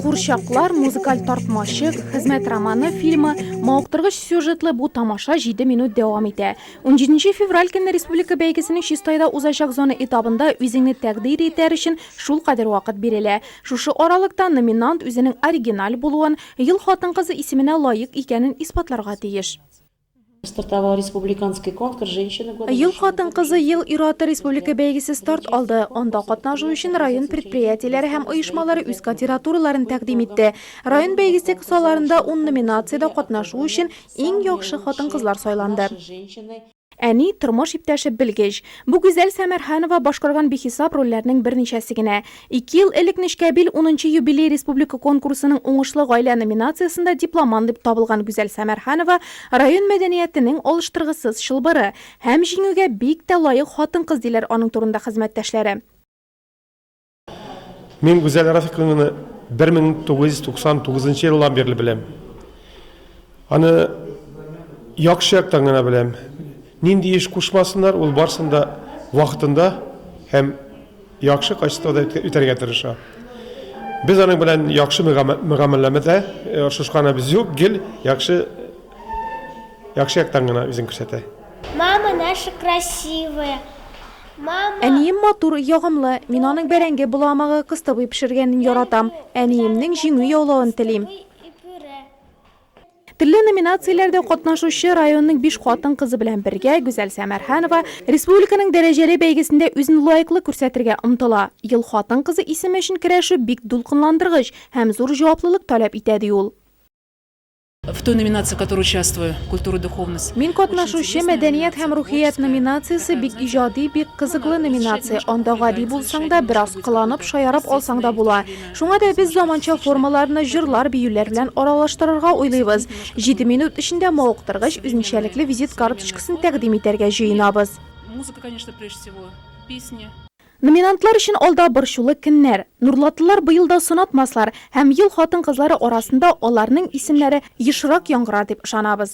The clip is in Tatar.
Курчаклар, музыкаль тартмачык, хезмәт романы фильмы, мавыктыргыч сюжетлы бу тамаша 7 минут дәвам итә. 17 февраль көнне республика бәйгесенең Чистайда узачак зона этабында үзеңне тәкъдир итәр өчен шул кадәр вакыт бирелә. Шушы аралыкта номинант үзенең оригиналь булуын, ел хатын-кызы исеменә лаек икәнен исбатларга тиеш. Стартовал республиканский конкурс женщины года. Ел хатын-кызы, ел ир-аты республика бәйгесе старт алды. Анда катнашу өчен район предприятиеләре һәм оешмалары үз кандидатураларын тәкъдим итте. Район бәйгесе кысаларында ун номинациядә катнашу өчен иң яхшы хатын-кызлар сайланды. Әни, тормыш иптәше, белгеч. Бу Гүзәл Сәмәрханова башкарган бихисап рольләрнең берничәсе генә. Ике ел элек Нечкәбил унынчы юбилей республика конкурсының Уңышлы гаилә номинациясендә дипломант дип табылган Гүзәл Сәмәрханова район мәдәниятенең алыштыргысыз чылбыры һәм җиңүгә бик тә лаек хатын-кыз, диләр аның турында хезмәттәшләре. Мин Гүзәл Рафиковнаны 1999 елдан бирле беләм. Аны яхшы яктан гына беләм. Нинди эш кушмасыннар, ул барсын да вакытында һәм яхшы качествода үтәргә тырыша. Без аның белән яхшы мөгамәләмәдә оршышканыбыз юк, гел яхшы яхшы яктан гына үзен күрсәтә. Мама наша красивая, мама. Әнием матур, ягымлы. Мин аның бәрәңге боламыгы, кыстыбый пешергәнен яратам. Әниемнең җиңү яулавын телим. Төрле номинацияләрдә катнашучы районның биш хатын-кызы белән бергә Гүзәл Сәмәрханова республиканың дәрәҗәле бәйгесендә үзен лаеклы күрсәтергә омтыла. Ел хатын-кызы исеме өчен көрәшү бик дулкынландыргыч һәм зур җаваплылык таләп итә, ди ул. В той номинации, в которой участвую, культура и духовность. Мин катнашучы мәдәният һәм рухият номинациясе бик иҗади, бик кызыклы номинация. Анда гади булсаң да, бераз кыланып, шаярып алсаң да була. Шуңа да без заманча формаларны җырлар-биюләр белән аралаштырырга уйлыйбыз. Җиде минут эчендә мавыктыргыч, үзенчәлекле визит карточкасын тәкъдим итәргә җыенабыз. Музыка, конечно, прежде всего, песни. Номинантлар өчен алда борчулы көннәр. Нурлатлылар быел да сынатмаслар һәм ел хатын-кызлары арасында аларның исемнәре ешрак яңгырар дип ышанабыз.